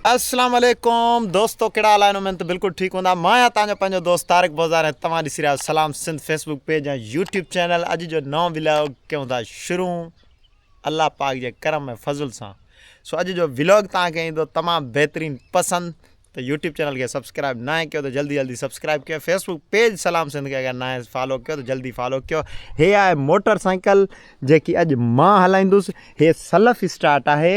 السلام عليڪم دوستو ڪهڙا حال آهن اميد ته بلڪل ٺيڪ هوندا مان آهيان توهان جو پنهنجو دوست طارق بوزار ۽ توهان ڏسي رهيا Salam Sindh Facebook page ۽ YouTube channel اڄ جو نو ولاگ ڪيون ٿا شروع الله پاڪ جي کرم ۽ فضل سان سو اڄ جو ولاگ توهان کي ايندو تمام بهترين پسند ته يوٽيوب چينل کي سبسڪرائب نه ڪيو ته جلدي جلدي سبسڪرائب ڪيو فيسبوڪ پيج سلام سنڌ کي اگر نه فالو ڪيو ته جلدي فالو ڪيو هي آهي موٽر سائيڪل جيڪي اڄ مان هلائيندس هي سلف اسٽارٽ آهي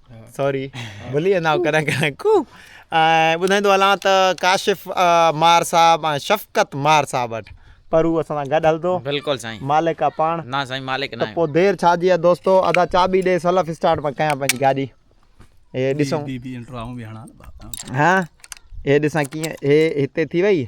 سوري ڀلي ويندا آهيو ڪڏهن ڪڏهن ڪو ۽ ٻڌائيندو هلان ته ڪاشف مار صاحب ۽ شفقت مار صاحب وٽ پر هو اسان سان گڏ هلندو بلڪل سائين مالڪ آ پاڻ نا سائين مالڪ نا پو دير ڇا جي آ دوستو ادا چاٻي ڏي سلف اسٽارٽ مان ڪيان پنهنجي گاڏي اي ڏسون بي بي انٽرو آئون به هڻان ها اي ڏسان ڪيئن هي هتي ٿي وئي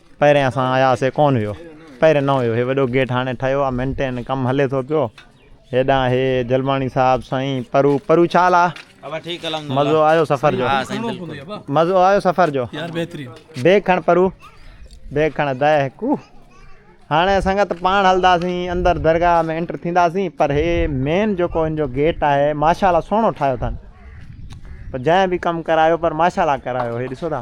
پهرين اسان آيا هئاسين ڪون هيو پهرين نه هيو هي وڏو گيٽ هاڻي ٺهيو آ مينٽين ڪم هلي ٿو پيو هيڏانهن هي جلماڻي صاحب سائين پرو پرو ڇا حال آ مزو آيو سفر جو مزو آيو سفر جو بيگ کڻ پرو بيگ کڻ ادا هڪو هاڻي سنگت پاڻ هلنداسين اندر درگاهه ۾ انٽر ٿينداسين پر هي مين جيڪو هن جو گيٽ آهي ماشاء الله سهڻو ٺاهيو اٿن جنهن به ڪم ڪرايو پر ماشاء الله ڪرايو هي ڏسو ٿا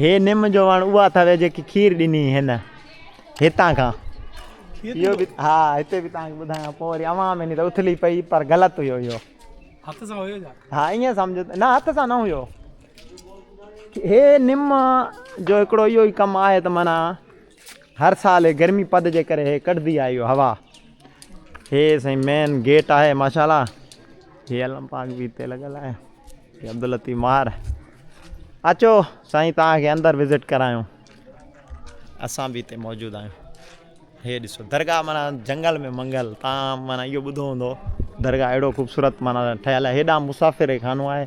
هي نم جو وڻ اها اٿوي جيڪي کير ڏني هن هتان کان اهو به ها هتي به تان ٻڌايان پوء وري اوهان ۾ ني ته اٿلي پئي پر غلط هيو اهو هٿ سان هيو جا ها ائين سمجهو نه هٿ سان نه هيو هي نم جو هڪڙو اهو ئي ڪم آهي ته معنی هر سال هي گرمي پد جي ڪري هي ڪڍدي آهي اهو هوا هي سائين مين گيٽ آهي ماشاءالله هي علم پاڪ بي تي لڳل آهي هي عبداللطيف مار اچو سائين تان کي اندر وزٽ ڪرايون اسان بي تي موجود آهيون هي ڏسو درگاهه مانا جنگل ۾ منگل تان مانا اهو ٻڌو هوندو درگاهه اهڙو خوبصورت مانا ٺهيل آهي هيڏانهن مسافر خانو آهي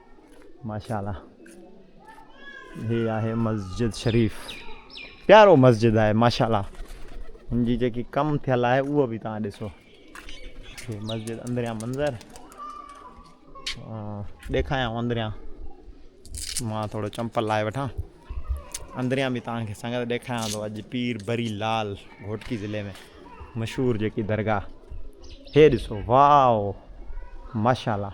ماشاءالله هي آهي مسجد شريف پيارو مسجد آهي ماشاءالله هن جي جيڪي ڪم ٿيل آهي اهو به تان ڏسو هي مسجد اندريان منظر ڏيکايان اندريان مان ٿورو چمپل لائي وٺان اندريان به تان کي سنگت ڏيکايان ٿو اڄ پير بري لال گھوٽڪي ضلع ۾ مشهور جيڪي درگاهه هي ڏسو واو ماشاءالله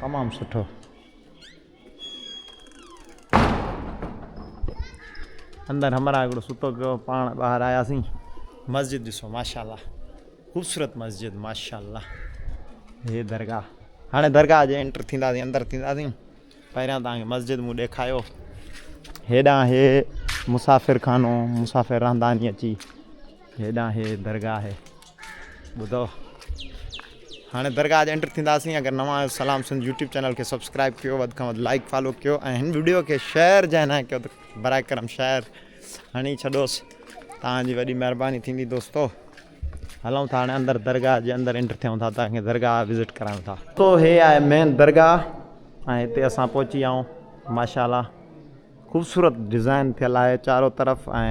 تمام سٺو. اندر همراهه هڪڙو ستو پيو هو پاڻ ٻاهر آياسين. مسجد ڏسو ماشاءالله خوبصورت مسجد ماشاءالله هي درگاهه هاڻي درگاهه جي انٽر ٿينداسين اندر ٿينداسين پهريان توهان کي مسجد مون ڏيکايو هيڏانهن هي مسافر خانو مسافر رهندا ني اچي هيڏانهن هي درگاهه هي ٻڌو هاڻي درگاهه جي انٽر ٿينداسين اگر نوان آهيو سلام سنڌ يوٽيوب چينل کي سبسڪرائب ڪيو وڌ کان وڌ لائڪ فالو ڪيو ۽ هن ويڊيو کي شيئر جنهن نه ڪيو ته برائي کرم شيئر هڻي ڇڏوس تان جي وڏي مهرباني ٿيندي دوستو هلون ٿا هاڻي اندر درگاهه جي اندر انٽر ٿيون ٿا تان کي درگاهه وزٽ ڪرايون ٿا تو هي آهي مين درگاهه ۽ هتي اسان پهچي آئون ماشاء الله خوبصورت ڊزائن ٿيل آهي چارو طرف ۽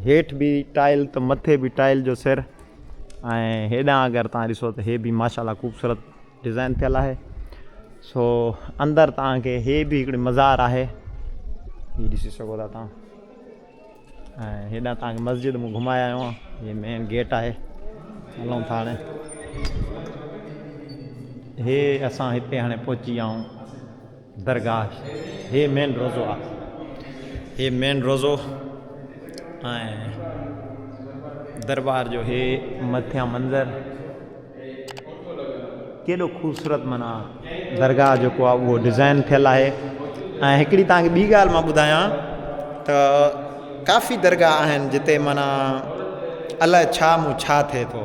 هيٺ به ٽائل ته مٿي به ٽائل جو سر ۽ هيڏانهن اگر تان ڏسو ته هي به ماشاءالله خوبصورت ڊزائن ٿيل آهي سو اندر تان کي هي به هڪڙي مزار آهي هي ڏسي سگهو ٿا تان ۽ هيڏانهن تان کي مسجد مون گهمايا آهيو هي مين گيٽ آهي هلون ٿا هاڻي هي اسان هتي هاڻي پهچي ويا آهيون درگاهه هي مين روضو آ. هي مين روضو ۽ دربار جو هي مٿيان منظر ڪيڏو خوبصورت معنيٰ درگاهه جيڪو آ اهو ڊزائن ٿيل آهي ۽ هڪڙي توهان کي ٻي ڳالهه مان ٻڌايان ته ڪافي درگاهه آهن جتي معنيٰ الاء ڇا مون ڇا ٿئي ٿو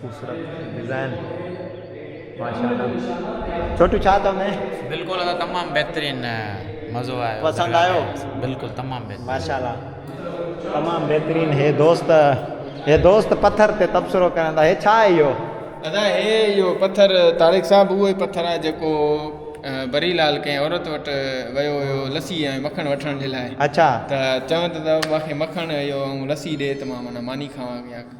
خوبصورت ڊزائن ماشاءالله ڇوٽو ڇا اٿو ۾ بلڪل ادا تمام بهترين مزو آيو پسند آيو بلڪل تمام بهترين ماشاءالله تمام بهترين هي دوست هي دوست پٿر تي تبصرو ڪرندا هي ڇا آهي اهو ادا هي اهو پٿر طارق صاحب اهو ئي پٿر آهي جيڪو بري لال ڪنهن عورت وٽ ويو هيو لسي ۽ مکڻ وٺڻ جي لاء اچھا ته چون ته مونکي مکڻ اهو ۽ لسي ڏي ته مان معني کاوان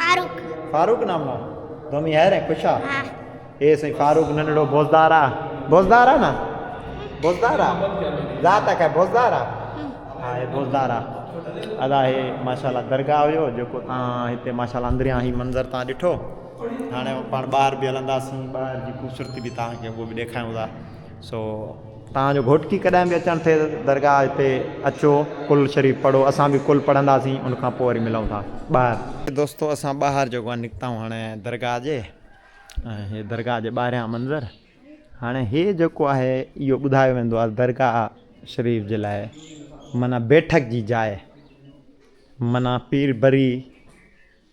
فاروق فاروق نام آ ڌومي هير ۽ خوش آ ها هي سائين فاروق ننڙو بوزدار آ بوزدار آ نه بوزدار آ ذات آ کي بوزدار آ ها هي بوزدار آ ادا هي ماشاءالله درگاهه هيو جيڪو تا هتي ماشاءالله اندريان هي منظر تا ڏٺو هاڻي پاڻ ٻاهر به هلنداسين ٻاهر جي خوبصورتي به تا کي اهو به ڏيکاريون ٿا سو توهان جو گهوٽڪي ڪڏهن به اچڻ ٿئي ته درگاهه هتي اچو ڪل شريف پڙهو اسان به ڪل پڙهنداسين ان کان پوء وري ملون ٿا ٻاهر. دوستو اسان ٻاهر جيڪو آهي نڪتائون هاڻي درگاهه جي ۽ هي درگاهه جي ٻاهريان منظر هاڻي هي جيڪو آهي اهو ٻڌايو ويندو آهي درگاهه شريف جي لاء معنيٰ بيٺڪ جي جاء معنيٰ پير بري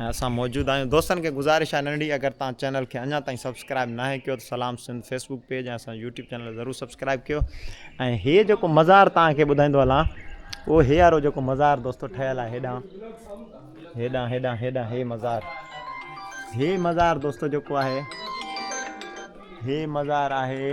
۽ اسان موجود آهيون دوستن کي گذارش آهي ننڍي اگر تان چينل کي اڃا تائين سبسڪرائب ناهي ڪيو ته سلام سنڌ فيسبوڪ پيج ۽ اسان يوٽيوب چينل ضرور سبسڪرائب ڪيو ۽ هي جيڪو مزار تان کي ٻڌائيندو هلان او هي وارو جيڪو مزار دوستو ٺهيل آهي هيڏان هيڏان هيڏان هيڏان هي مزار هي مزار دوستو جيڪو آهي هي مزار آهي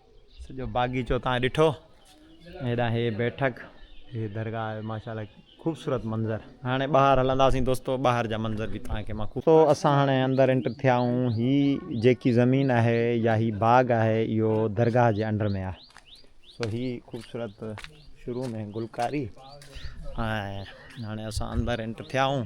سڄو باغيچو تان ڏٺو هيڏانهن هي بيٺڪ هي درگاهه ماشاءالله خوبصورت منظر هاڻي ٻاهر هلنداسين دوستو ٻاهر جا منظر به توهان کي مان خوب اسان هاڻي اندر انٽر ٿيا آهيون هي جيڪي زمين آهي يا هي باغ آهي اهو درگاهه جي انڊر ۾ آهي سو هي خوبصورت شروع ۾ گلڪاري ۽ هاڻي اسان اندر انٽر ٿيا آهيون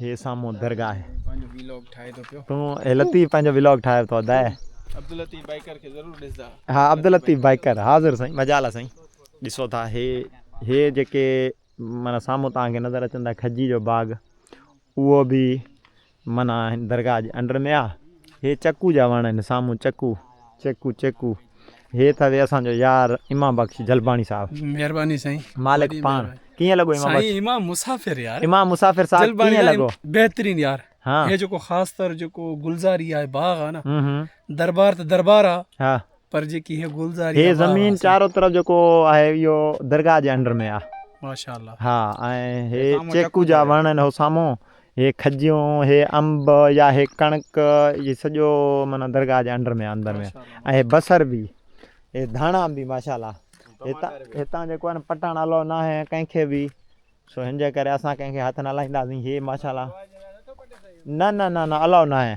هي سامهون درگاهه پنهنجو ويلاگ ٺاهي ٿو پيو تون هي لطيف پنهنجو ويلاگ ٺاهي ٿو ادا عبداللطيف بائيڪر کي ضرور ڏسدا ها عبداللطيف بائيڪر حاضر سائين مجال آ سائين ڏسو ٿا هي هي جيڪي معنی سامهون توهان کي نظر اچن ٿا کجي جو باغ اهو به معنی درگاهه جي انڊر ۾ آ هي چڪو جا وڻ آهن سامهون چڪو چيڪو چيڪو هي ته وي اسان جو يار امام بخش جلباڻي صاحب. مهرباني سائين. مالڪ پاڻ ڪيئن لڳو امام بخش. سائين امام مسافر يار. امام مسافر صاحب ڪيئن لڳو. بهترين يار هي جيڪو خاص طور جيڪو گلزاري آهي باغ آهي نه دربار ته دربار آ پر جيڪي هي گلزاري هي زمين چارو طرف جيڪو آهي اهو درگاهه جي انڊر ۾ آ ماشاء الله ها ۽ هي چيڪو جا وڻ آهن هو سامهون هي کجيون هي انب يا هي ڪڻڪ اهي سڄو معنيٰ درگاهه جي انڊر ۾ اندر ۾ ۽ هي بصر به هي ڌاڻا به ماشاءالله هتان هتان جيڪو آهي نه پٽاڻ الو نه آهي ڪنهن کي به سو هن جي ڪري اسان ڪنهن کي هٿ نه لائينداسين هي ماشاءالله نه نه نه نه الو نه آهي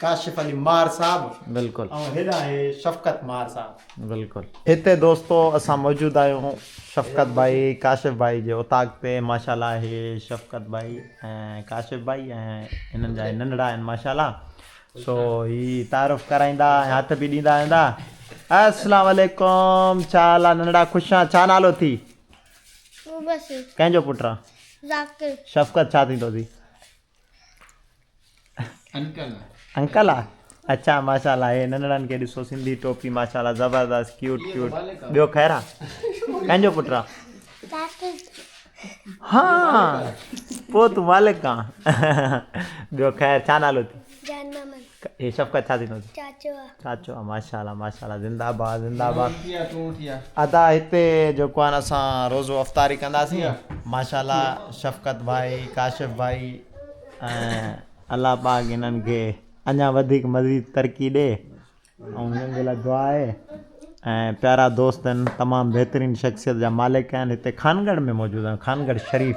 ڪاشف علي مار صاحب بلڪل ۽ هيڏانهن آهي شفقت مار صاحب. بلڪل هتي دوستو اسان موجود آهيون شفقت ڀائي ڪاشف ڀائي جي اوطاق تي ماشاءالله هي شفقت ڀائي ۽ ڪاشف ڀائي ۽ هنن جا هي ننڍڙا آهن ماشاءالله سو هي تعارف ڪرائيندا ۽ هٿ به ڏيندا ويندا السلام عليڪم ڇا حال آ ننڍڙا خوش آ ڇا نالو اٿي مبشر ڪنهن جو پٽ آ ذاڪر شفقت ڇا ٿيندو اٿي انڪل آ اچا ماشاءالله هي ننڙن کي ڏسو سنڌي ٽوپي ماشاءالله زبردست ڪيوٽ ڪيوٽ ٻيو خيرا ڪنهن جو پٽ آ ها پو تون مالڪ آ ٻيو خير ڇا نالو اٿي هي شفقت ڇا ٿيندو چئي. چاچو آ. چاچو آ ماشا الله ماشا الله زنده آباد زنده آباد ادا هتي جيڪو آهي نه اسان روزو افطاري ڪنداسين ماشا الله شفقت ڀائي ڪاشف ڀائي ۽ الله پاڪ هنن کي اڃا وڌيڪ مزيد ترقي ڏي ۽ هنن جي لاء دعا آهي ۽ پيارا دوست آهن تمام بهترين شخصيت جا مالڪ آهن هتي خانگڙ ۾ موجود آهن خانگڙ شريف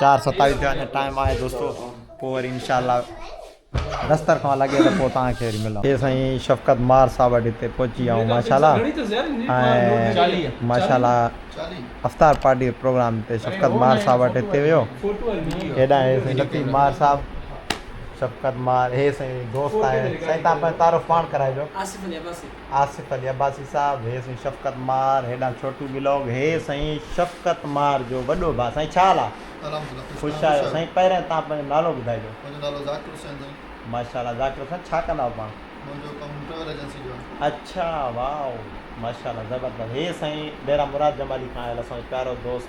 چار ستاويھ ٿيا اڃا ٽائيم آھي دوستو پوء وري انشاء الله رس ترخوان لڳي ته پوء توهان کي وري ملان اي سائين شفقت مار صاحب وٽ هتي پهچي ويا آهيون ماشاء الله ۽ ماشاء الله افطار پارٽي جو پروگرام تي شفقت مار صاحب وٽ هتي ويو هيڏانهن هي سائين لطيف مار صاحب شفقت مار هي سائين دوست آهي سائين تان پنهنجو تعارف پاڻ ڪرائجو آصف علي عباسي صاحب هي سائين شفقت مار هيڏانهن ڇوٽو بلاگ هي سائين شفقت مار جو وڏو ڀاء سائين ڇا حال آ الحمدلله خوش خوش تان آهيو خوش سائين پهرين تان پنهنجو نالو ٻڌائجو منهنجو نالو ذاڪر حسين سائين ماشاءالله ذاڪر حسين ڇا ڪندا آهيو پاڻ منهنجو ڪم ٽريول ايجنسي جو آهي اڇا واء ماشاءالله زبردست هي سائين ڊيرا مراد جمالي کان آيل اسانجو پيارو دوست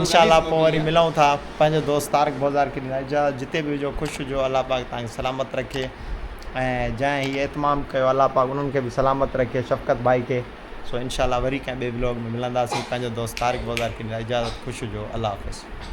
انشاء الله پوء وري ملون ٿا پنهنجو دوست طارق بوزار کي ڏيندا اجازت جتي به هجو خوش هجو الله پاڪ توهان کي سلامت رکي ۽ جنهن هي اهتمام ڪيو الله پاڪ انهن کي به سلامت رکي شفقت ڀائي کي سو انشاء الله وري ڪنهن ٻئي بلاگ ۾ ملنداسين پنهنجو دوست طارق بوزار کي ڏيندا اجازت خوش هجو الله حافظ.